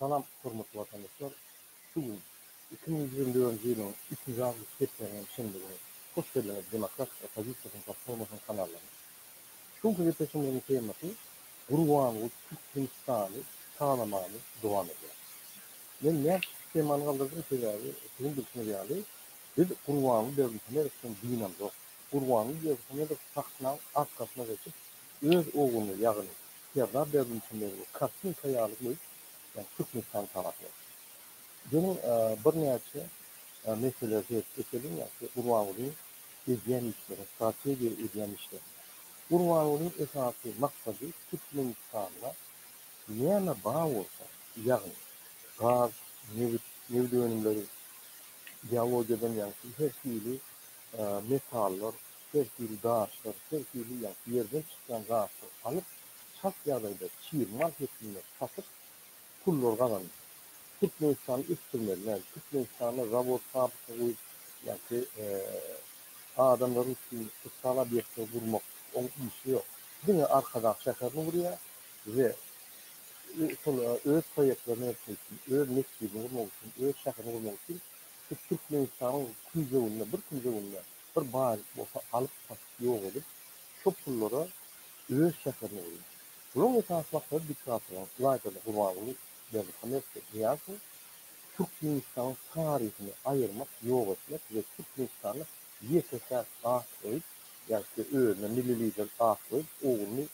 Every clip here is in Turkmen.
Salam, hormatly watandaşlar! Şu gün, iki müň ýigrimi dördünji ýylyň üçünji awgust çärşenbäniň şenbe güni. Hoş geldiňiz Demokratik oppozisiýasynyň platformasynyň kanallaryna! Şu günki gepleşigimiziň temasy Gurbanguly Türkmenistany tanamany dowam edýär. Men näme üçin temany galdyrdym? Sebäbi, siziň bilşiňiz ýaly, biz Gurbanguly Berdimuhamedowdan dynamzok. Gurbanguly Berdimuhamedow sahnaň arkasyna geçip, öz oguny, ýagny Serdar Berdimuhamedowy kartinka ýaly goýup, ýagny Türkmenistan tarapyna çykdy. Geliň, birnäçe meselelere seret geçeliň, ýa şu Gurbangulyň edýän işlerine, strategiýa edýän işlerine. Gurbangulyň esasy maksady Türkmenistanda näme bar bolsa, ýagny gaz, nebit, nebit önümleri, geologiýadan ýaňky her hili metallar, her hili daşlar, her hili ýa-da ýerden çykýan zatlary alyp, çalt ýagdaýda çig mal hepdinde satyp, pullary gazanyp, Türkmenistany ösdürmeli, nädip? Türkmenistanda zawod, fabrika guýup, ýa-ki adamlar üçin sosial obýektleri gurmak, oň işi ýok. Diňe Arkadag şäherini gurýar we şol öz proýektlerini etmek üçin, öz metjidini gurmak üçin, öz şäherini gurmak üçin Biz Türkmenistanyň künjeginde, bir künjeginde bir baýlyk bolsa alyp satyp ýok edip, şo pullara öz şäherini gurýar. Bulaň esasy maksady diktatoryň ilaýtady Gurbanguly Berdihamedowdy Nyýazow Türkmenistanyň taryhyny aýyrmak ýok etmek we Türkmenistany ýeke-täk gahş goýup ýa-da özüne milli lider gahş goýup ogluny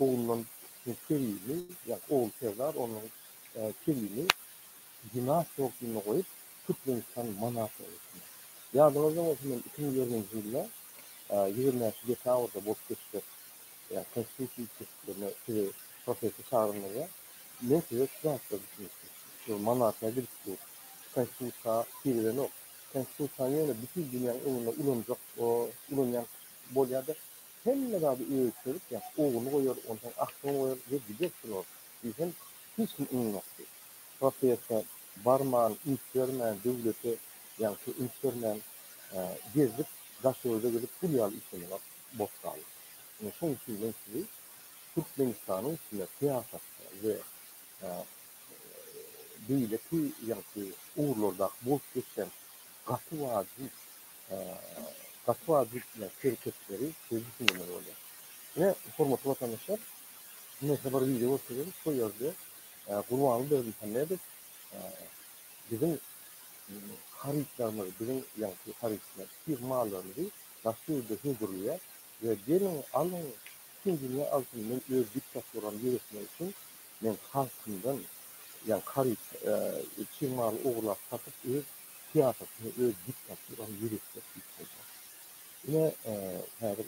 oglundan kiçisini Kerimi ýa ogly Serdar ondan Kerimi Bina stolpyny goýup, türkmenistan manatyny getirmek. Ýadyňyzda bolsa, men iki müň ýigrimi nji ýylda, ýigrimi bäş dekabrda bolup geçjek Konstitusiýa üýtgeşiklerine sizi proteste çagyrandymyzda, men size şu zatlar düşündirdim. Şu manatyna gidip dur. Konstitusiýa tirelenok. Konstitusiýany ýöne bütin dünýäň öňünde ulanjak, ulanýan bolýar-da, hemme zady ölçerip, ýa ugruny goýar, onsoň aksyny goýar we gider şular diýsem, hiç kim ynanokdy. Proteste barman, üns bermän, döwlete ýa-da şu üns bermän, gezdik, Daşogza gidip gul ýaly işlemek bolup galdy. Ine şoň üçin men sizi Türkmenistanyň içinde syýasatda we beýleki ýagty ugurlardaky bolup geçen gaty wajyp, gaty wajyp hereketleri size düşündirmeli bolýan. Ine hormatly watandaşlar, Neyse bir video görkezdik şu yerde Gurbanly Berdimuhamedow biziň harytlarymyzy, biziň yani şu harytlar, sir mallarymyzy başga ýerde hödürleýär we geliň alyň bütün dünýä alsyn men öz diktaturamy ýöretmek üçin men halkymdan yani haryt çig maly ogurlap satyp öz syýasatymy öz diktaturamy ýöretjek diýip aýdýar. Ine häzir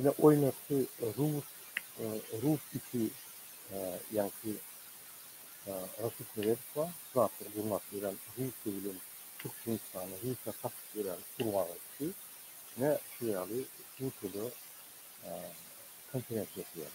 Ine oýnatdy rus rus iki ýaňky Raşid Meredow bar, zatlar gurnap ýören Russiýa bilen Türkmenistany Russiýa satyp ýören gurbaga ikisi ine şu ýaly Russiýada konferensiýa geçirýärler.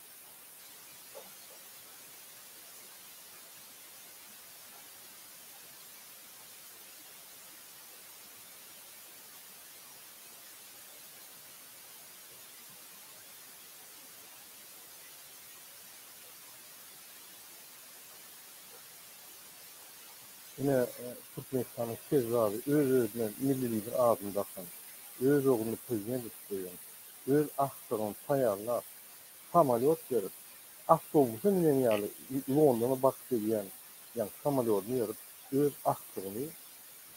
Ine, Türkmenistanyň Kezzap, öz-özüne milli lider adyny dakan, öz ogluny prezident edip goýan, öz agtygyny taýýarlap, samolýot berip, awtobusa minen ýaly Londona baryp gelýän ýaňky samolýodyny berip, öz agtygyny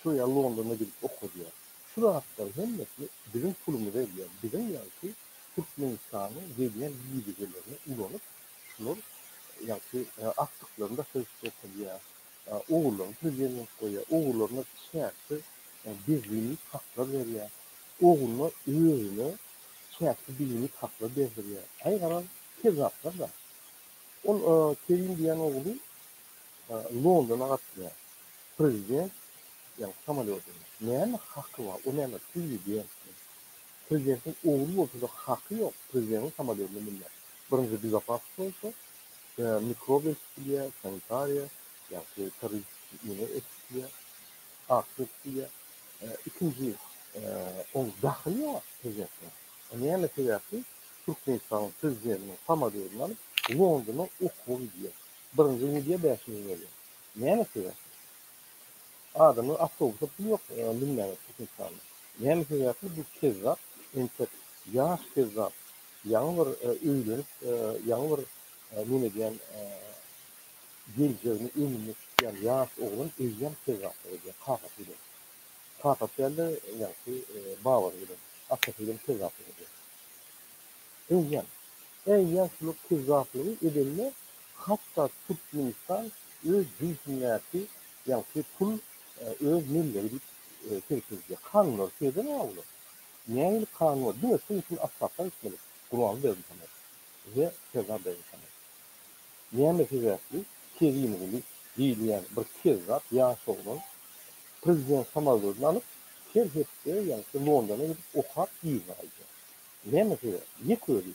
şu ýa Londona gidip okadýar. Şu zatlaryň hemmesini biziň pulumyza edýär. Biziň ýaňky Türkmenistanyň gelýän ýigidigelerini ulanyp, şular ýaňky agtyklaryny daşaryk çykaryp bilýär. Ogurlaryň prezidentlik goýýar. Ogurlaryna çäksiz beýik haklar berýär. Ogluna özüne çäksiz beýik haklar berdirýär. Aý garaz, kezzaplar da. Ol Kerim diýen ogly Londona gatnaýar. Prezident ýaňky samolýodynda. Näme haky bar? O näme prezidentmi? Prezidentiň ogly bolsa-da haky ýok prezidentiň samolýodyna münmäge. Birinji Bizapasow bolsa mikrobiologiýa, sanitariýa, ýagty terroristik ýene eksikliýe, aktiýa, ikinji oň dahyly ýok herekete. Näme sebäpli Türkmenistanyň prezidentiniň samolyodyn alyp Londona okuwa gidýär. Birinji gidýär bäş müň berýär. Näme sebäpli? Adamlar awtobusa pul ýok münmäge Türkmenistanda. Näme sebäpli bu kezzap entek ýaş kezzap Ýaňy bir öýlenip, ýaňy bir men edýän geljegini öňünde tutýan ýaş oglan eýýäm söz başlyk edýär, kakasy bilen. Kakasy däl-de, ýagşy, babasy bilen, atasy bilen söz başlyk edýär. Eýýäm, eýýäm şular söz başlygy edende hatda Türkmenistan öz cünsündäki, ýagşy, pul öz mellegi diýip çirkildýär. Kanunlary şeýdem-ä olar. Nähili kanun bar? Diňe şuň üçin Atbasar gitmeli, Gurbanberdi sanar we Serdar begi sanar. Näme sebäpli Kerimguly diýilýän bir kezzap ýaş oglan prezident samolýodyny alyp, her hepde ýa-da şu Londona gidip okap yzyna gaýdýar? Näme sebäp? Ýek özi.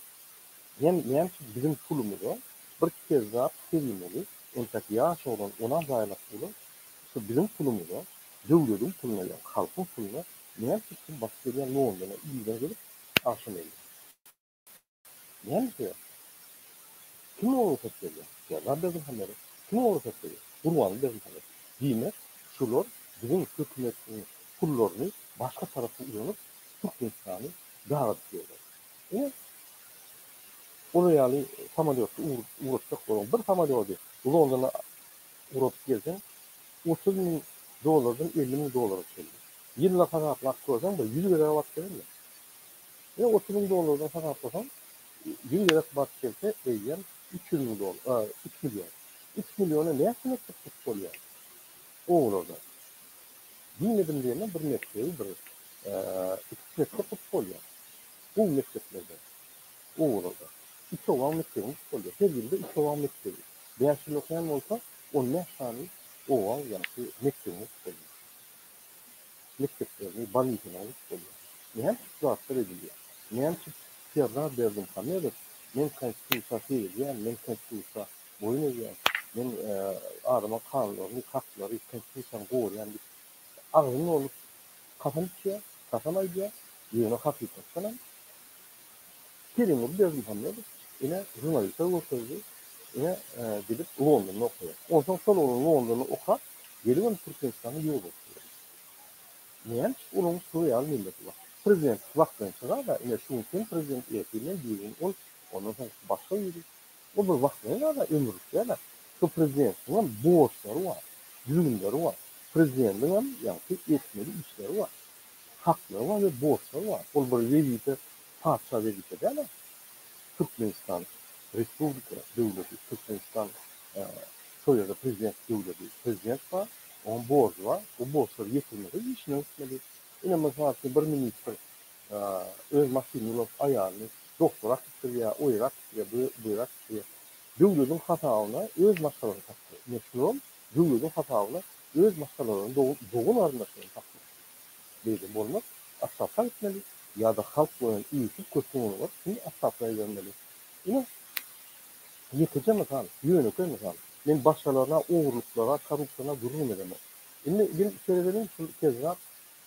Näme näme üçin biziň pulumyza bir kezzap Kerimguly, entäk ýaş oglan onam zaýalap bula, şu biziň pulumyza, döwlediň puluna ýa-da halkyň puluna Näme üçin siz batyp gelýän Londona irden gelip, agşam geldiňiz? Näme sebäp? Kim oňa rugsat berýär? Serwer Berdimuhamedow. Kim oňa rugsat berýär? Gurbanguly Berdimuhamedow. Diýmek, şular biziň hökümetiň pullaryny başga tarapa ulanyp, Türkmenistany dagadyp ýörler. Ine, olar ýaly samolýotda ugratjaklar. Bir samolyody Londona Urup gelseň, otuz müň dollardan elli müň dollara çenli. Ýyllap hasaplap görseň, bir ýüz gezeg batyp gelermi? Ýa otuz müň dollardan hasaplasaň, ýüz gezek batyp gelse, eýýäm üç ýüz müň dollar, a, üç million. Üç milliona näçe mekdep gurup bolýar? Obalarda. Diýmedim diýemem, bir mekdebi, bir, a, iki-üç mekdep gurup bolýar. Gowy mekdeplerden. owazada. Üç owaň mekdebiň tutulýar. Her ýylda üç owaň mekdebi. Bäş ýyl okaýan bolsa, on bäş sany owaň ýaňky mekdebiňi tutup bolýar. Mekdeplerini, balihiňi tutup bolýar. Näme şu zatlar edilýär? Näme üçin Serdar Berdimuhamedow men konstitusiýa seredýän, men konstitusiýa boýun egýän, men adamyň kanunlaryny, haklary, konstitusiýany gorýän diýip agzynly bolup kasam içýär, kasam aýdýar, ýöne hakykatdanam Kerimguly Berdimuhamedow ine žurnaliste görkezdi, ine gidip Londonda okaýar. Onsoň şol oglan Londonda okap, gelibem Türkmenistanyň ýolbaşçysy bolýar. Näme üçin olaryň şu ýaly milleti bar? Prezidentlik wagtlanşyga-da ine şu gün sen prezident ertesi men düýbüni ol, ondan soňkusy başga biri, Bu bir wagtlaýyn-a-da ömürlik däl-ä. Şu prezidentiňem borçlary bar, düzgünleri bar. Prezidentiňem, ýagty, etmeli işleri bar. Haklary bar we borçlary bar. Ol bir wezipe, patyşa wezipe däl-ä. Türkmenistan respublika döwleti, Türkmenistan şol ýerde prezident döwleti. Prezident bar, onuň borjy bar. Bu borçlary ýetirmese işinden gitmeli. Ine, mysal üçin, bir ministr öz maşynyny ulap aýalyny doktora äkitdirýär, o ýere äkitdirýär, bu bu ýere äkitdirýär. Döwlediň hasabyna öz maşgalasyny satdy. Meşhur ol döwlediň hasabyna öz maşgalalaryny dogan dogan garyndaşlaryny satmak. Beýle bolmaz. Aşgabada gitmeli ýa-da halk boýun iýsip köşgüň öňüne baryp şuny aşgabada ibermeli. Ine ýekeje mysal, ýönekeý mysal. Men başgalaryna, ogurlyklara, korrupsiýana gürrüňem edemok. Indi gelip içeri geliň şul Kezzap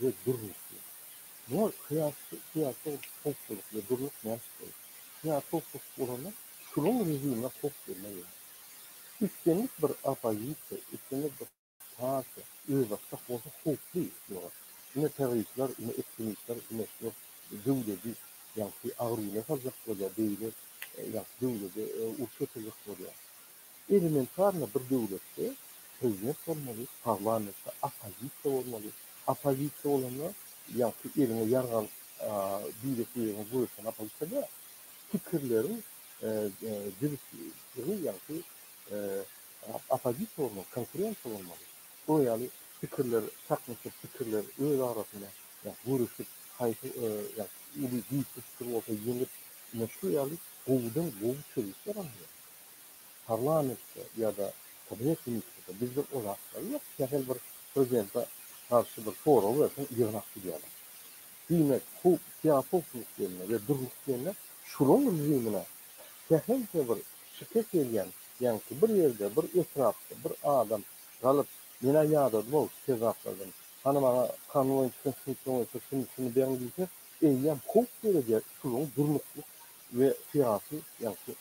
we durnukly. Muňa syýasy howpsuzlyk we durnuk mätäç bolar. Syýasy howpsuzlyk bolanda şunuň režimine howp gelmez ýaly. Islendik bir oppozisiýa, islendik bir partiýa özbaşdak bolsa howply ýöne ine terroristler, ine ektremistler, ine şular döwleti ýagty agyr güne saljak bolýar, beýle ýagty döwleti uruş getirjek bolýar. Elementarno bir döwletde prezident bolmaly, parlamentde oppozisiýa bolmaly. Oppozisiýa bolanda ýagty eliňe ýarag alyp diýdek ýeriňe göreşen oppozisiýa däl. Pikirleriň jübüsligi ýagty oppozisiýa bolmaly, konkurensiýa bolmaly. Bu ýaly pikirler çaknyşyp, pikirler öz arasynda göreşip, haýsy uly güýçli pikir bolsa ýeňip, ine şu ýaly gowudan gowy çözgütler alynýar. parlamentde ýa-da Kabinet ministrde bizde o zatlar ýok. Kähili bir prezidente garşy bir sorag berseň ýygnak gidýärler. Diýmek, howp, syýasy howpsuzlyk diýende we dürlük diýende şunuň rejimine kähiliçe bir şikes ýegýän ýaňky bir ýerde, bir etrapda bir adam galyp, men-ä ýadadym-ow şu kezzaplardan, hany maňa kanunyň çykyş süňkleri boýunça şuny, şuny beriň diýse, eýýäm howp döredýär şunuň durnuklyk we syýasy ýaňky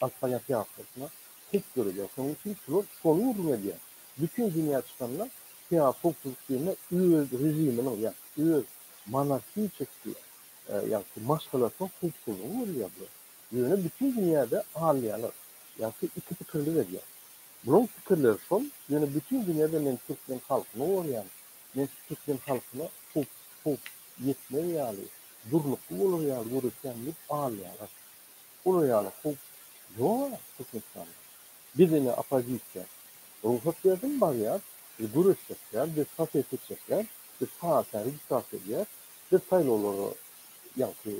Alpanyýaky ýaşlaryna howp döredýär. Şonuň üçin şular şony gürrüň edýär. Bütin dünýä çykanda Syýasy howpsuzlyk diýende öz režiminiň, ýagny öz monarhiçeski, ýagny maşgalasynyň howpsuzlygy görülýär bular. Ýöne bütin dünýäde alynýarlar. Ýagny iki pikirlik edýär. Bularyň pikirleri şol, ýöne bütin dünýäde men türkmen halkyny gorýan, men şu türkmen halkyna howp howp ýetmez ýaly, durnukly bolar ýaly göreşýän diýip alynýarlar. Olar ýaly howp ýok-a Türkmenistanda. Biz ine oppozisiýa. Rugsat berdim barýas, biz göreş çekýäs, biz protest etjekler, biz partiýa registrasiýa edýäs, biz saýlawlara ýaňky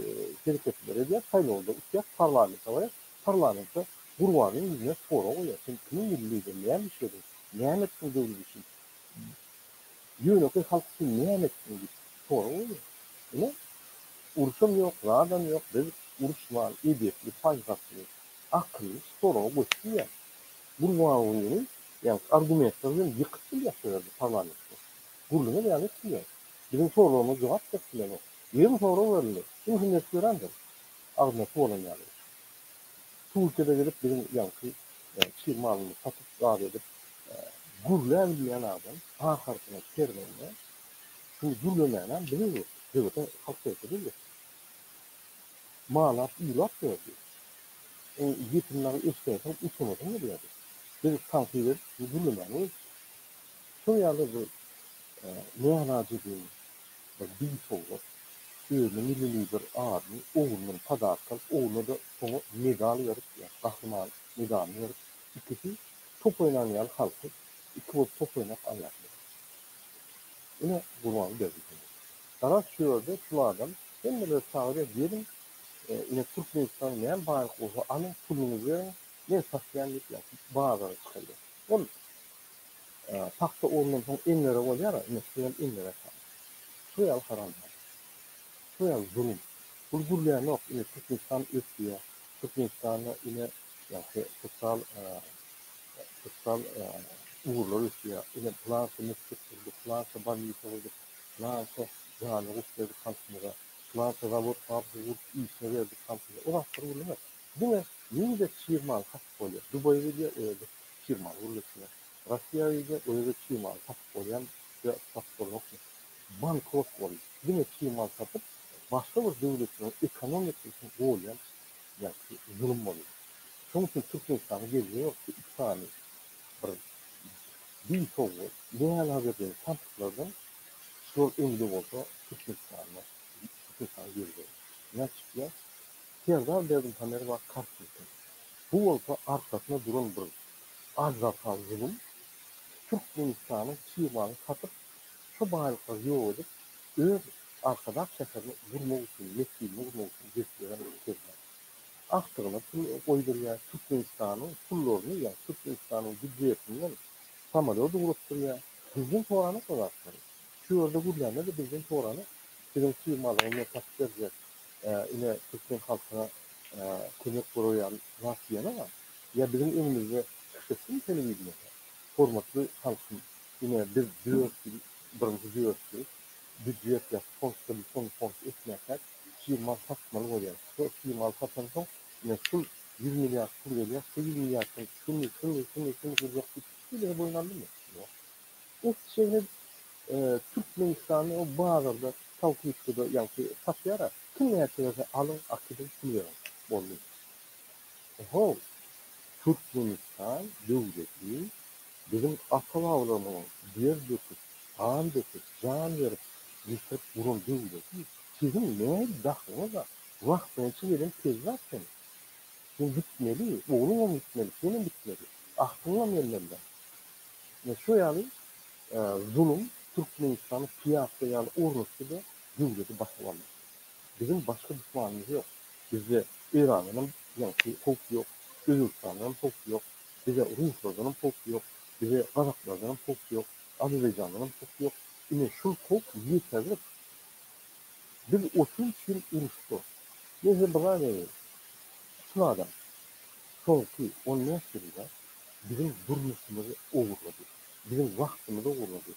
hereketleri edýäs, saýlawda utýas, parlamente barýas, parlamente Gurbanyň ýüzüne sorag goýýas, sen kimiň milli lideri, näme işlediň, näme etdiň döwlet üçin? Ýönekeý halk üçin näme etdiň diýip sorag berýär. Ine, uruşam ýok, zadam ýok, biz uruşman, edepli, paýhasly, akylly şu soraga göçüp bilýäris. Gurbangulyny ýa-da argumentler bilen ýykyp bilýäs şu ýerde parlamentde. Gürleme beýan edip bilýäris. Biziň soraglarymyza jogap berip bilenok. Ýigrimi sorag berildi. Kimsi meş berendir. Agzyna su bolan ýaly. Türkiýede gezip biziň ýaňky çig malymyzy satyp zat edip gürläbilmeýän adam ahyrsyna kerwende şuny gürlemänäm biziz bu sebite halk sebitidir biz malap uýlap ýördi iň ýetim nagy eşdeýseň utanasyň gelýärdi biz tankyt edip gürlemäni goýupdyk şol ýaly bir nälajebiň Ýa diň sowgat. Özüne millili bir adyny oglundan padarka alyp, ogluna-da soňa medal berip, ýa gahryman medalyny berip, ikisi top oýnan ýaly halky iki bolup top oýnap alýarsyňyz. Ine, Gurbanberdi diňe. Garaz, şu ýerde şul adam hemmeleri çagyrýar, geliň, ine, Türkmenistanyň näme baýlyk bolsa alyň, puluňyzy beriň, men satýan diýip, ýa bazara çykarýar. Ol. Pagta urundan soň enlere bolýar-a, ine, şu ýaly enler atan. Şu ýaly haramzat. Şu ýaly zulum. Bul gürlänok, ine, Türkmenistan ösýär. Türkmenistanda, ine, ýagşy sosial, sosial ugurlar ösýär. Ine, pylança metjit gurdyk, pylança bolnisa gurdyk, pylança jana goşup berdik halkymyza, pylança zawod-fabrika gurdup, işine berdik halkymyza. O zatlar gürlemek. Diňe wiza çyg maly satyp bolýar. Dubaý gidýär o ýerde çyg maly gürleşýär. Russiýa gidýär o ýerde çyg maly satyp bolýamy ýa satyp bolnokmy? Bankrot boldy. Diňe çyg mal satyp başga bir döwletleriň ekonomikasy üçin golýan ýagty zulum bolýar. Şoň üçin Türkmenistana gelje ýok şu iki sany bir bil sowga däl ha berjegiň tanpyklardan şular öňde bolsa Türkmenistanda Türkmenistana gelje ýok. Näçikýa Serdar Berdimuhamedowa kart çekdi. Bu bolsa arkasyna duran bir aždarha zulum. Türkmenistanyň çigmalyny satyp, şo baýlyklary ýok edip, öz Arkadag şäherini gurmak üçin, mesjidini gurmak üçin göçürýän Serdar. Agtygyna pul goýdurýar, Türkmenistanyň pullaryny, ýa Türkmenistanyň býudjetinden samolýot ugratdyrýar. Bizden soranok o zatlary. Şu ýerde gürlände-de bizden soranok. Biziň çigmalygy men satyp berjek, Ine, türkmen halkyna kömek guraýan zat diýene bar. Ýa biziň öňümizde çykyş etsin telewideniýede, Hormatly halkym, ine, biz dört ýyl, birinji dört ýyl býudjet ýa-da fond kreditini fond etmänkäk, çig mal satmaly bolýar. Şo çig maly satansoň, ine, şul ýüz milliard pul gelýär, şu ýüz milliardyň şuny, şuny, şuny, şuny gurjak diýip hiç hili boýun aldymy? Ýok. Ot çeýnegi Türkmenistanda o bazarda salfetkada ýaňky satýara. Kim näçe berse alyň, akylyň, pul beriň. Boldy. Oho, Türkmenistan döwleti biziň ata-babalarymyzyň der döküp, gan döküp, jan berip ýetirip guran döwleti siziň ne dahlyňyz bar? Wagtynça gelen kezzap sen. Sen gitmeli, ogluňam gitmeli, senem gitmeli. Agtyňam gelmelidir. Ine şo ýaly zulum Türkmenistany pyýapja ýaly ornatdy-da, döwleti basyp aldy. Biziň başga duşmanymyz ýok. Bizde Eýrandan hem ýaňky howp ýok, Özbegistandan hem howp ýok, bize ruslardan hem howp ýok, bize gazaklardan hem howp ýok, Azerbaýjandan hem howp ýok. Ine şol howp ýeterlik. Biz otuz üç ýyl uruşdyk. Men size bir zat aýdaýyn. Tutuň adam. Soňky on bäş ýylda biziň durmuşymyzy ogurlady, biziň wagtymyzy ogurlady.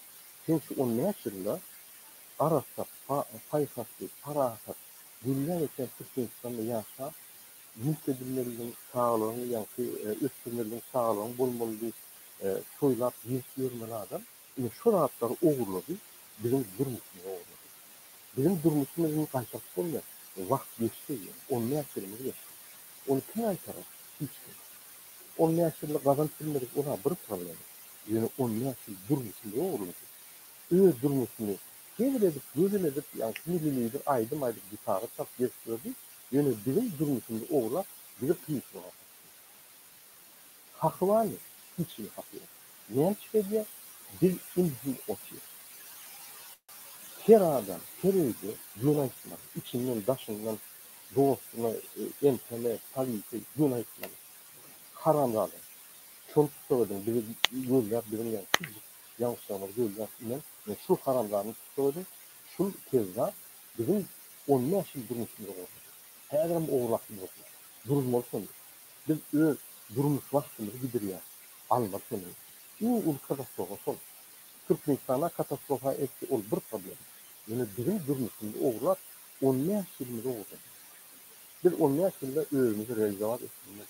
Sen şu on bäş ýylda arassa, paýhasly, parasat, gülläp ösen Türkmenistanda ýaşap, mülk edinmelidiň, saglygyňy ýaňky ösdürmelidiň, saglygyň bolmalydy, toýlap, gezip ýörmeli adam, ine, şu zatlary ogurlady, biziň durmuşymyzy ogurlady. Biziň durmuşymyzy indi gaýtaryp bolmaýar. Wagt geçdi, ýöne on bäş ýylymyz geçdi. Ony kim gaýtarar? Hiç kim. On bäş ýylda gazanyp bilmedik ol-a bir problema. Ýöne on bäş ýyl durmuşy lowurlady. Öz durmuşyny hezil edip, gözel edip, ýa hili-lilidir aýdym aýdyp, gitara çalyp gezip ýördi, ýöne biziň durmuşymyzy ogurlap, bizi kynçylyga sokdy. Haky barmy? Hiç hili haky ýok. Näme çyka edýär? Biz indi-şimdi otyrys. Her adam, her öýde ýöne aýtmaz, içinden, daşyndan Dostuňa entäme polisiýa gün aýtmaly. Haramzada. Şony tussag ediň bizi gözläp biziň ýaňy kiçijik ýaňyşlarymyzy gözläp inen men şul haramzadany tussag ediň şul kezzap biziň on bäş ýyl durmuşymyzy gurdy häzirem ogurlapmy bolsa duruzmaly şony biz öz durmuş wagtymyzy gidirýäs almaly şony iň uly katastrofa şol Türkmenistana katastrofa eltdi ol bir problem ýöne biziň durmuşymyzy ogurlap On bäş ýylymyz owzan. Biz on bäş ýylda özümizi realizowat etdigiňden,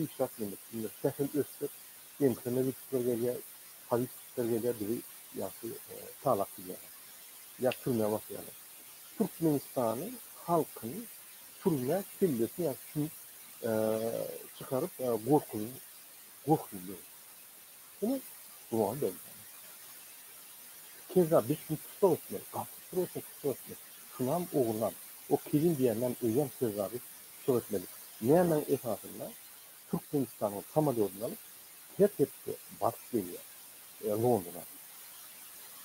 işläp ýömüşdigiňden, sähel ösdük, MHM gitjekler gelýär, politçikler gelýär bizi ýagty talap gidýärler. Ýa türmä basýarlar. Türkmenistanyň halkyny türmä kellesini ýa sümük çykaryp gorkuzyň, gorkuzdyň. Ine, dogry däl-dä. Keza biz şuny tussag etmeli, gaty tussag etmeli, tussag etmeli. Şunam, ogunam, o kilin diýeninem öýem keza biz tussag etmeli. Nämäň esasynda Türkmenistanyň samolýodyny alyp, her hepde baryp gelýär Londona.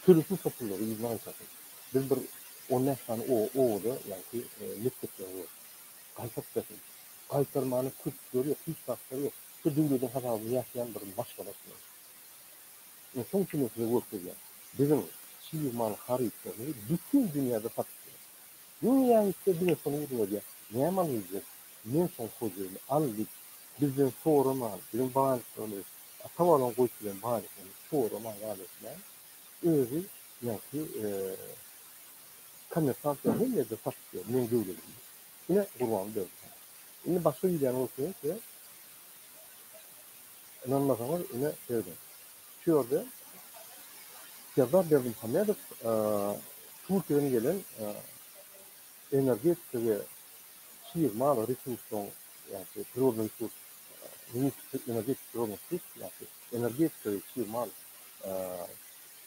Sürüsini topullary yzyna gaýtarsyn. Biz bir on bäş sany obada ýaňky mekdepleri gördük. Gaýtaryp bersin. Gaýtarmana köpçüleri ýok, hiç zatlar ýok. Şu döwlediň hasabyny ýatýan bir maşgalasyna ynsan çemesinde görkezýän biziň çig mal harytlarymyzy bütin dünýäde satyp biler. Diňe ýaýypda diňe şony ýygnadyýar. Näme alyjak? Men şoň hojaýyny. Al git. Bizden soraman, biziň baýlyklarymyzy, ata-babaň goýup giden baýlyklarymyzy soraman al etmän, özi ýaňky kommersant ýaly her ýerde satyp ýör meň döwledimi. Ine Gurbanguly Berdimuhamedow. Indi başga wideony görkezýän size. Ynanmasaňyz ine serediň. Şu ýerde Serdar Berdimuhamedow Türkiýeden gelen energetika we çig mal resursynyň ýa-da prirodnyý resurs ministri energetika prirodnyý resurs ýa-da energetika we çig mal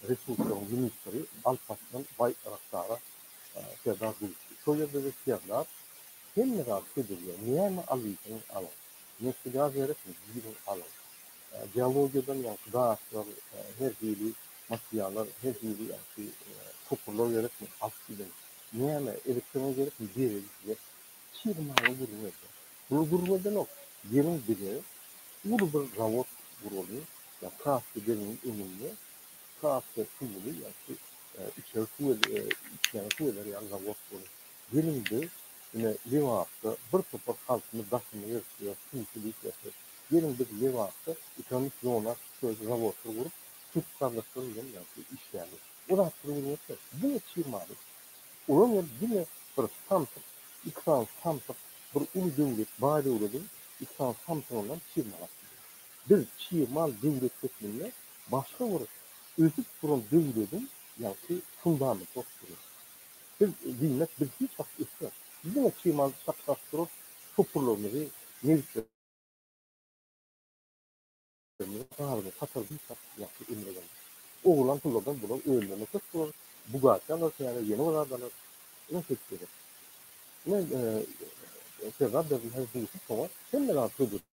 resurslaryň ministri Alparslan Baýrakdara Serdar duşdy. Şo ýerde biz serlap, hemme zady södelýär. Näme alyjyň, alyň. Nebti-gaz gerekmi, giriň, alyň. Geologiýadan ýaňky daşlar, her hili materiallar, her hili ýaňky toparlar gerekmi, alyp gidiň. Näme, elektronika gerekmi, bereýin size. Çig maly gürrüň edýär. Bular gürrüň edenok, geliň bize uly bir zawod guralyň, ýa Kaspi deňiziň öňünde iki atly suwly ýa-da içeri suw içýän suw eder ýaly zawod bolar. Gelindi ine Lebapda bir topar halkymy daşyma gerip ýör, kümsi diýip ýatyr. Geliň biz Lebapda ekonomik zona söz zawodlar gurup, türk gardaşlar bilen ýa-da işläliň. O zatlar görmezkä. Diňe çig maly. Olam hem diňe bir samsyk, iki sany samsyk bir uly döwlet, baý döwlediň iki sany samsygyndan çig mal alyp gidýär. Biz çig mal döwlet hökmünde başga bir ösüp duran döwlediň ýagty fundamenti bolup durýar. Biz diýmek biz hiç wagt ösýäs. Biz diňe çymalyp çapdaşyp duran topurlarymyzy, nebitlerimizi gazyny satar diýsek ýagty emele gelmez. Ogurlan pullardan bular özlerine köp bular bugatti alar täze ýene bir zat alar. Ine şeýdip gezek. Ine Serdar Berdimuhamedow duýşup soňa hemme zady söz edip.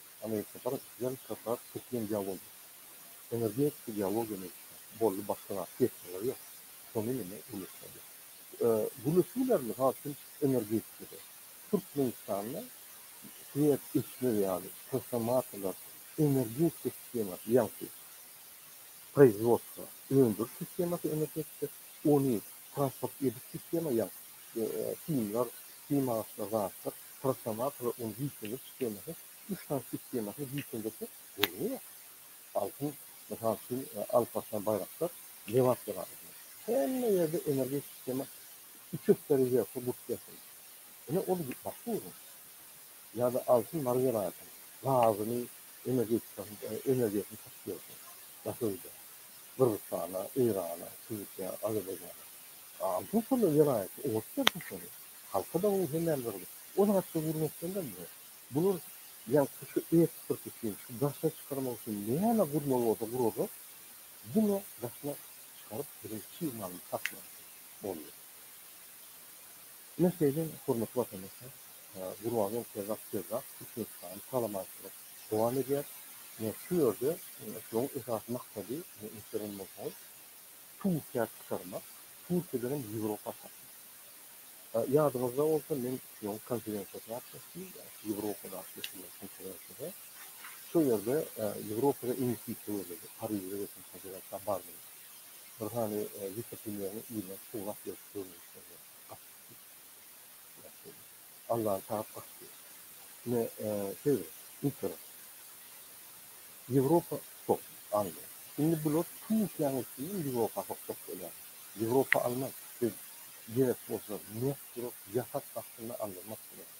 Amerika bir ýan köpräk türkmen dialogy energetika dialogy meýilli boldy başga zat diýeşmeleri ýok şony meni gülüşdirdi gülüşdiler mysal üçin energetikada türkmenistanda şwed isler ýaly transformatorlar energetika sistemasy ýagty proizwodstwo öndüriş sistemasy energetika ony transport ediş sistema ýagty simler sim agaçlar zatlar Prosomat we onuň diýseňlik skemasy, üç sany tip skemasyny diýseň geçse, gürrüňi ýok. Altyn, mysal üçin, Alparslan Baýraktar, Lebap Jelalyýew. Hemme ýerde energetik skema iki ökde rewerse gurt gelsin. Ine, ol başga gürrüň. Ýa-da Altyn Mary welaýatyň gazyny, energetikasyny, energiýasyny satyp ýörse, daşa öýdä, Gyrgyzystana, Eýrana, Türkiýä, Azerbaýjana. Altyn şol welaýatyň, oňat bersin şony. Halka-da oň hemem gyzdy. O zatdan gülmekden-de bu. Bular ýaňky şu eksport üçin, şu daşa çykarmak üçin näme gurmaly bolsa gurarlar, diňe daşyna çykaryp biziň çig malymyzy satmaly boldy. Ine şeýle, hormatly watandaşlar, Gurbangül Serdak Serdak Türkmenistany talamalçylyk dowam edýär. Ine şu ýerde şunuň esasy maksady, ine inçe gören bolsaňyz, Turkiýa çykarmak, Türkiýeden hem Ýewropa satmak. Ýadyňyzda bolsa, men şunuň konferensiýasyna gatnaşdym, Ýewropa garşy geçirilen konferensiýada. Şol ýerde Ýewropada iň kiçi töweregi, Parižde geçen konferensiýa bardym. Bir sany wise-premýeriň yzyna surat berip görnüşlerine gatnaşdym. Allan tap gaçdy. Ine, siz internetde Ýewropa top aldy. Indi bular Türkiýäniň üstünden Ýewropa hak top bolýar. Ýewropa almaz. Siz gerek bolsa mert durup, ýasak astynda aldyrmak gerek.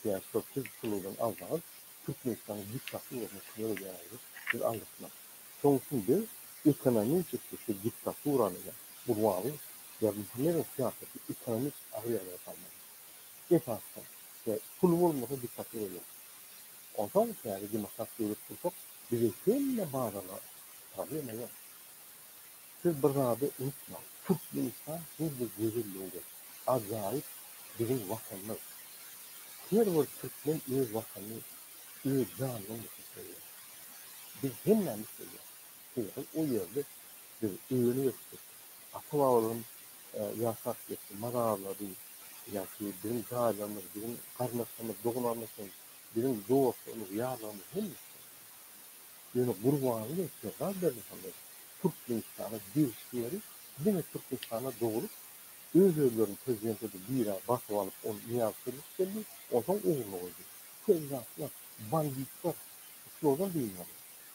Sebäbi şol siz puludan alsaňyz, Türkmenistanyň diktaturasy kömek edýäňizdi, siz aldyrtmaz. Şonuň üçin biz ekonomiki şu diktaturany, ýa Gurbanguly Berdimuhamedowyň syýasatyny ekonomiki agyr ýagdaýa salmaly. esasda we pul bolmasa dikgatly bolýar. Onsoň täze demokrat döwlet gursak bize hemme bazarlar problema ýok. Siz bir zady unutmaň Türkmenistan her bir gözelligiňde ajaýyp biziň watanymyz. Her bir türkmen öz watanyny öz janyndan geçip söýýär. Biz hemmämiz söýýäris sebäbi o ýerde biz öýlenip ösdük ata babalarym ýaşap geçdi, mal azlady, ýaşy, biziň jaýlarymyz, biziň garyndaşlarymyz, doganlarymyz üçin, biziň dostlarymyz, ýarlarymyz hemmesi üçin. Ýöne Gurbanguly we Serdar Berdimuhamedow Türkmenistana degişli ýeri diňe Türkmenistanda doglup, öz-özlerini prezident edip bire basyp alyp, ol Nyýazow çözgüt geldi, onsoň ugruny goýdy. Köp zatlar, banditler, şulardan dynmaly.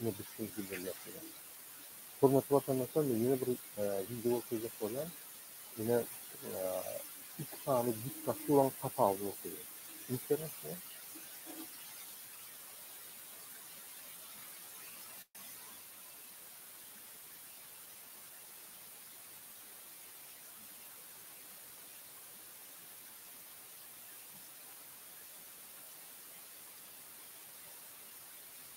Ine biz şuny bildirmek gerek. Hormatly watandaşlar men ýene bir wideo okuyjak bolýan. Ine iki sany diktaturaň tapawudyny okuyjak. Interesno.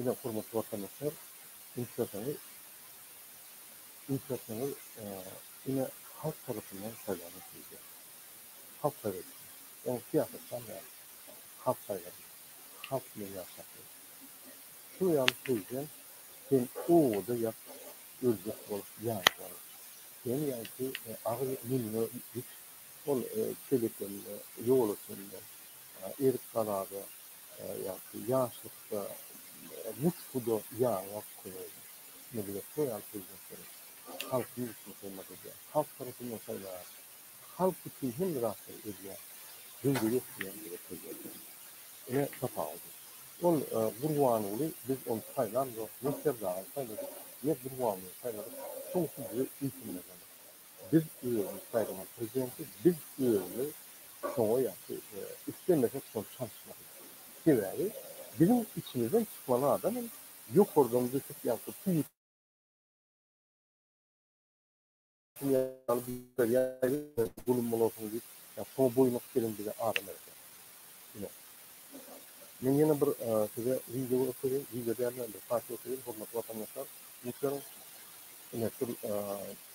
Ine, hormatly watandaşlar, üýtgeseňiz, üýtgeseňiz, ine, halk tarapyndan saýlanyp biljek. Halk saýlady. Ol syýasatçam däl. Halk saýlady. Halk bilen ýaşapdyr. Şuny ýaly söýseň, sen obada ýat, öljek bol, ýaňydan. Seni ýaňky agyz münüňe ýit, ol çelekende, ýol üstünde, erik-galada, Ýagty ýaşlykda nusguda ýaňak köýerler. Millet roýal prezidentleri halkyň ünsüni hyzmat edýär. Halk tarapyndan saýlaýar. Halk üçin hemme zatlary edýär. Döwlet etmeýän bize prezident bolsun. Ine tapawudy. Ol Gurbanguly biz ony saýlamzok, ne Serdaryny saýladyk, ne Gurbangulyny saýladyk. Şoň üçin bize üýtünmez ony. Biz özümiz saýlanan prezidenti biz özümiz şoňa ýa-ki islemesek şony çalyşmalydyrys. Sebäbi biziň içimizden çykmaly adam hem ýokardan düşüp ýa-ki pul zulum bolarsyň diýip ýa-da şoňa boýnuňyz gelen bize adam gerek däl. Ine men ýene bir size wideo görkezýän, wideo däl-de bir foto görkezýän hormatly watandaşlar, üns beriň. Ine şul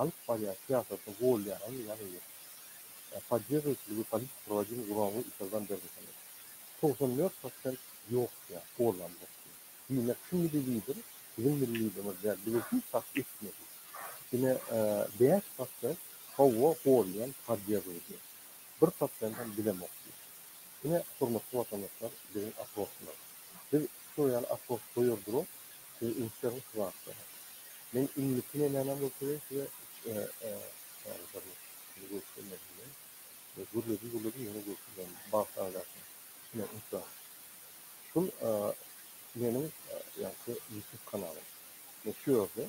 Alyp barýan syýasatyny golýanam ýaňy ýok. Poddežujt ligi politiki turba jin guroňy yşyrdan bermesene. Togsan dört prosent ýok diýýär, goldam ýok diýýär. Diýmek şu milli lider biziň milli liderimiz däl, bize hiç zat etmedi. Ine bäş prosent howwa golýan poddežujni. Bir prosentam bilemok diýýär. Ine hormatly watandaşlar biziň oprosylar. Biz şo ýaly opros goýar durok. Siz ünsleriniz kybapdyr. Men indiki nemänem bolsa we size ýaly bir sizi görkezmedim men. Gürledim-gürledim ýene görkezmedim. Bagt agzasyny. Ine, ünsler. Şul meniň ýaňky YouTube kanalym. Men şu ýerde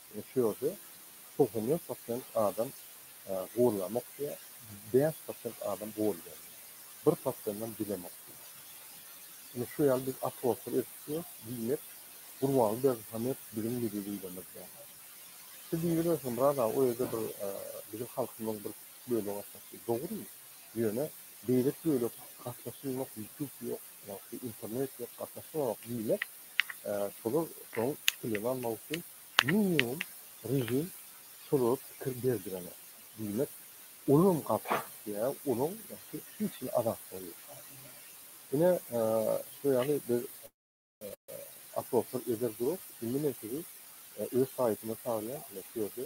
Ine şu ýerde togsan dört prosent adam guwulamok diýýär, bäş prosent adam guwul gelýär. Bir prosendem bilemok diýýär. Ine şu ýaly biz atroflary ösdürýäs, diýmek Gurbanguly Berdimuhamedow biziň milli Liderimiz däl. Siz diýibilirsiniz, Murad aga, o ýerde bir biziň halkymyzyň bir kiçi bölegi gatnaşýar. Dogry, ýöne beýleki bölek gatnaşylmasa, ýutub ýok, ýa-da şu internet ýok, gatnaşylanok diýmek, Şolar şoň pikirlerini almak üçin minimum režim şolara pikir berdirene. Diýmek, olam gaty işleýär, olaň ýaňky hiç hili azatlygy ýok. Ine, şu ýaly biz oproslar eder durus, indi men sizi öz saýtyma çagyrýan, ine, şu ýerde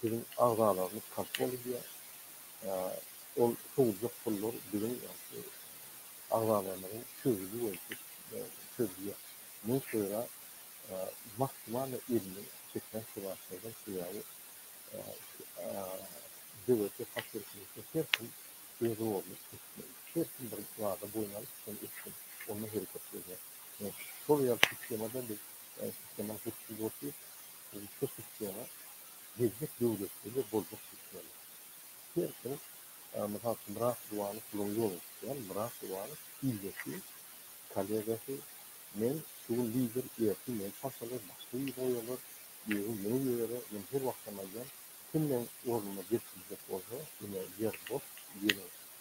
biziň agzalarymyz kontrol edýär. Ol sowuljak pullar biziň agzalarymyzyň çözgüdi boýunça çözülýär. Muňa köra maksimaliý elini çekýän sebäplerden sebäbi döwletli faktorlaryň içinde her kim öz roluny etmeli. Her kim bir zada boýun alyp, şony etsin, onda hereketlenýär. Şol ýaly sistemada biz sistemany gurupsyz gurupsyz Russiýa Türkiýäni gezmek döwletleri boljak Türkiýäniň. Her kim mysal üçin Myrat Gurbanov puluny ýola tutýan Myrat Gurbanov ildeşi, kolegasy, men şu gün lider ertir meni çalşarlar başga ýere goýarlar, özüm ýene ýere men her wagtam aýdýan kim meň ornuma geçiljek bolsa ine ýer boş geliň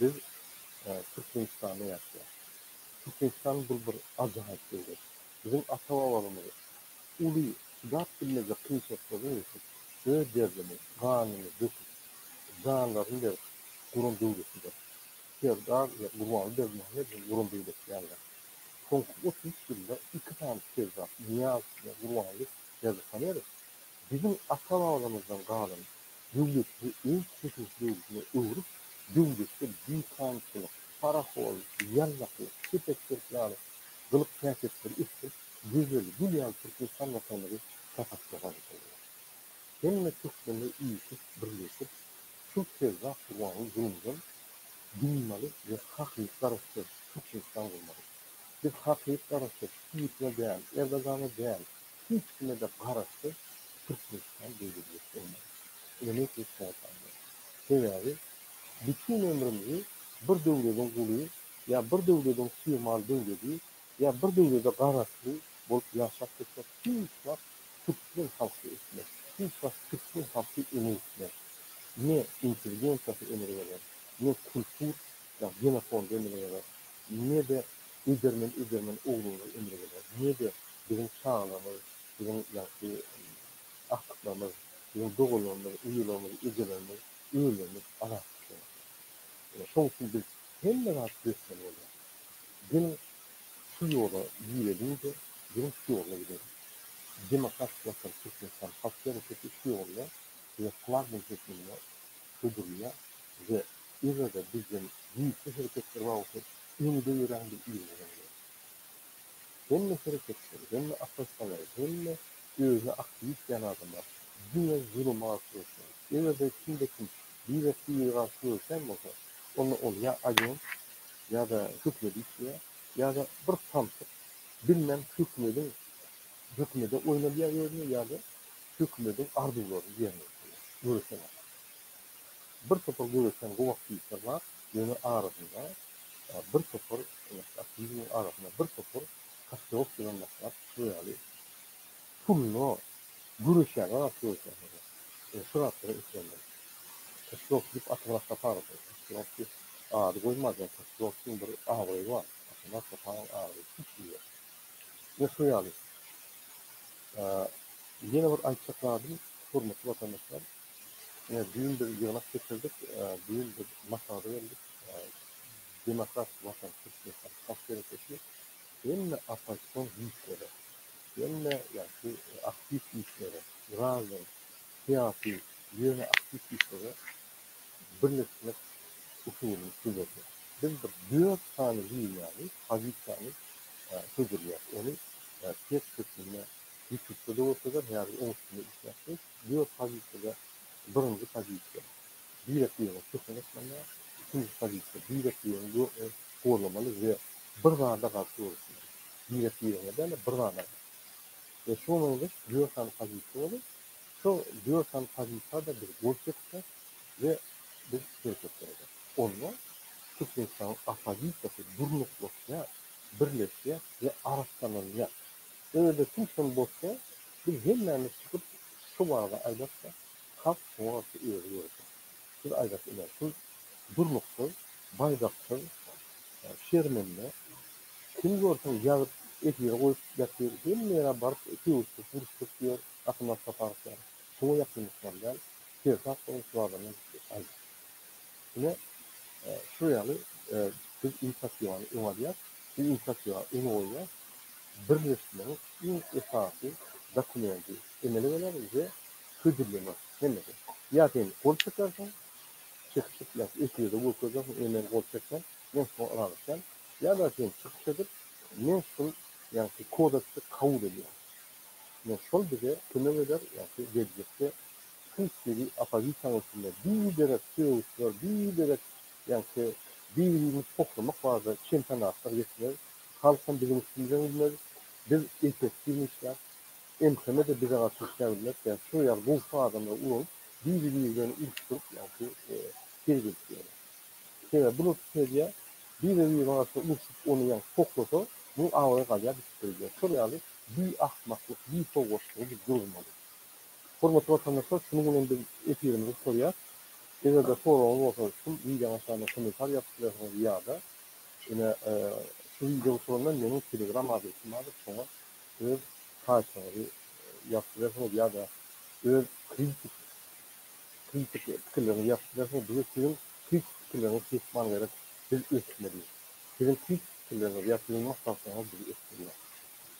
Biz Türkmenistanda ýaşaýarys. Türkmenistan bul bir ajaýyp döwlet. Biziň ata-babalarymyz uly çydap bilmejek kynçylyklara geçip, öz derini, ganyny döküp, janlaryny berip guran döwletidir. Serdar we Gurbanguly Berdimuhamedowyň guran döwleti ýalydyr. Soňky otuz üç ýylda iki sany serdar, Nyýazow we Gurbanguly Berdihamedow Biziň ata-babamyzdan galan döwletimizi öz tekelek döwletine öwrüp, döwletde dikançylyk, paraholyk, ýallakylyk, kepekçilik ýaly gylyk-häsiýetleri ösdürip, gözel, gül ýaly Türkmenistan Watanymyzy şatakçy gazypdyrlar. Hemme türkmenler üýşüp, birleşip, şu Ferzah Gurbanguly Zulumjan dynmaly we hakyky garaşsyz Türkmenistan gurmaly. Biz hakyky garaşsyz Putine däl, Erdogana däl, hiç kime-de garaşsyz Türkmenistan döwletimiz bolmaly. Ony hiç kime salmaly. Sebäbi bütin ömrümizi bir döwlediň guly ýa bir döwlediň suýemal döwledi ýa bir döwlede garaşly bolup ýaşap geçmek hiç wagt türkmen halky etmez. Hiç wagt türkmen halky öňe gitmez. Ne intelligensiýasy emele geler, ne kultur ýa genofondy emele geler, ne-de Edermen edermen ogluňyza ömür berer. Nirede biziň çagalrymyz, biziň ýagty agtyklarymyz, biziň doganlarymyz, uýalarymyz, ejelerimiz, öýlerimiz azat düşýär. Ine şoň üçin biz hemme zat göçmeli bolýar. Geliň şu ýola gireliňde geliň şu ýolda gideliň. Demokratik watan Türkmenistan halk hereketi şu ýolda bize flagman hökmünde hödürleýär we Ýöne-de bizden güýçli hereketler bar bolsa, öňde ýöräň bir iriginem ýok. Hemme hereketçiler, hemme oppozisiýoner, hemme özüni aktiw ýitýän adamlar diňe zuluma garşy göreşýär. Eger-de kimde kim biri-biri garşy göreşýän bolsa, onda ol ýa agent, ýa-da hökümede işleýär, ýa-da bir samsyk, bilmän hökümediň hökümede oýnalýar ýerine ýa-da hökümediň arzuwlaryny ýerine ýetirýär, göreşen adam. Bir topar göbekden gowak diýipdir bar, ýöne arasynda bir topar aktiwiniň arasynda bir topar kaşkewek bilen maslap şu ýaly puluna göreşýärler atyp göreşýärler. Şu zatlara islendim. Kaşkewek diýip atyň asla parasy kaşkewek diýip ady goýmadylar. Kaşkewekiň bir abraýy bar. Atyň asla paran abraýy hiç hili ýok. Ine şu ýaly. Ýene bir aýtjak zadym hormatly watandaşlar. Ine, düýn biz ýygnak geçirdik, düýn biz maslahata geldik. Demokratik Watan, Türkmenistan halk geňeşi hemme oppozision güýçlere, hemme ýagşy aktiw güýçlere, grazdan, syýasy ýöne aktiw güýçlere birleşmek usulyny hödürledi. Biz bir dört sany liniýany, pozisiýany hödürleýäs. Ony test hökmünde ýutupda-da bolsa eder, häzir oň üstünde işläpdis. Dört pozisiýada birinji pozisiýa Birekbiýewiň köşegi ysmanda, ikinji pozisiýa Birekbiýewiň dörtüni gorlamaly we bir zada garşy göreşmeli. Birekbiýewiň-ä däl-de, bir zada garşy. We şuňa meňzeş dört sany pozisiýa bolup, şo dört sany pozisiýada biz gol çekipdiris we biz hereketler ederis. Onda Türkmenistanyň oppozisiýasy durnuklaşýar, birleşýär we arassalanýar. Özde kim şol bolsa, biz hemmämiz çykyp şu wagy aýdak-da, halk şoňa garşy özi görsün. Siz aýdaş ine, şu durnuksyz, baýdaksyz, şermende kim görseň ýazyp efire goýup ýatyr, hemme ýere baryp sögüşdirip uruşdyryp ýör, Gahryman Saparow ýaly. Şoňa ýakynlykdan däl, sertap bolan şuwagyndan aýdaş. Ine, şu ýaly biz infrasiýony öňe alýas. Bu infrasiýa öňe goýýas. Birleşmegiň iň esasy dokumenti emele geler we hödürlener hemmesi. Ýa sen gol çekersiň, çykyş etmezsiň, efirde görkezersiň, ine men gol çekdim, men şuňa ylalaşýan, ýa-da sen çykyş edip, men şul ýagty kodeksi kabul edýän. Ine şol bize kömek eder, ýagty geljekde Hepdigi oppozisiýanyň içinde biderek sögüşler, biderek ýaňky bir-birimizi poklamak barada çempionatlar geçirer. Halk hem biziň üstümize gülmez. Biz effektiwnyý işläp, MHM-de bize garşy işläp bilmez. Ýagny şu ýaly gowşak adamlary ulanyp, biri biri bilen uruşdyryp ýaňky tir gelip ýörler. Sebäbi bular pikir edýär, biri birine garşy urşup ony ýaňky poklasa, munuň abraýy galýar, bitip gidýär. Şol ýaly bi ahmaklyk, bi sowatlygy biz duruzmaly. Hormatly watandaşlar şunuň bilen biz efirimizi gutarýas. Eger-de soragyňyz bolsa şu wideoň aşagynda kommentariýa ýazyp bilersiňiz ýa-da ine şu wideo guturandan meniň telegram adresim bardyr şoňa öz haýyşyňyzy ýazyp bilersiňiz ýa-da öz kritik kritik pikirleriňizi ýazyp bilersiňiz bize siziň kritik pikirleriňizi kesman gerek biz ösmeli siziň kritik pikirleriňiz ýa siziň maslahatlaryňyz bizi ösdürýär.